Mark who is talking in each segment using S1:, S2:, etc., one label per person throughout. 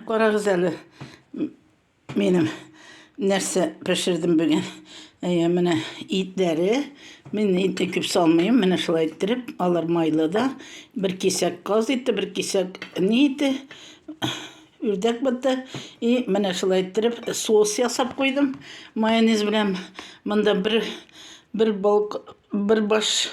S1: Карагыз әле, минем нәрсә пешердем бүген. Әйе, менә итләре. Мин итне күп салмыйм. Менә шулай иттереп, алар майлы да. Бер кисәк каз ите, бер кисәк ни ите, үрдәк бите. И менә шулай иттереп соус ясап куйдым. Майонез белән монда бер бер балк, бер баш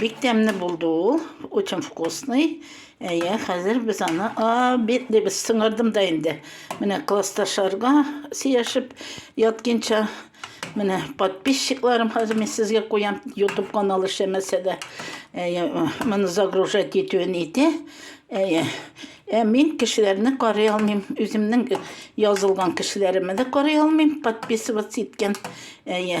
S1: Бик тәмле булды ул, очень вкусный. Әйе, хәзер без аны без сыңырдым да инде. Менә классташларга сөйләшеп ятканча, менә подписчикларым хәзер мин сезгә куям, YouTube каналы эшләмәсә дә, әйе, моны загружать итүен ите. Әйе. Ә мин кешеләрне карый алмыйм, үземнең язылган кешеләремне дә карый алмыйм, подписываться иткән. Әйе.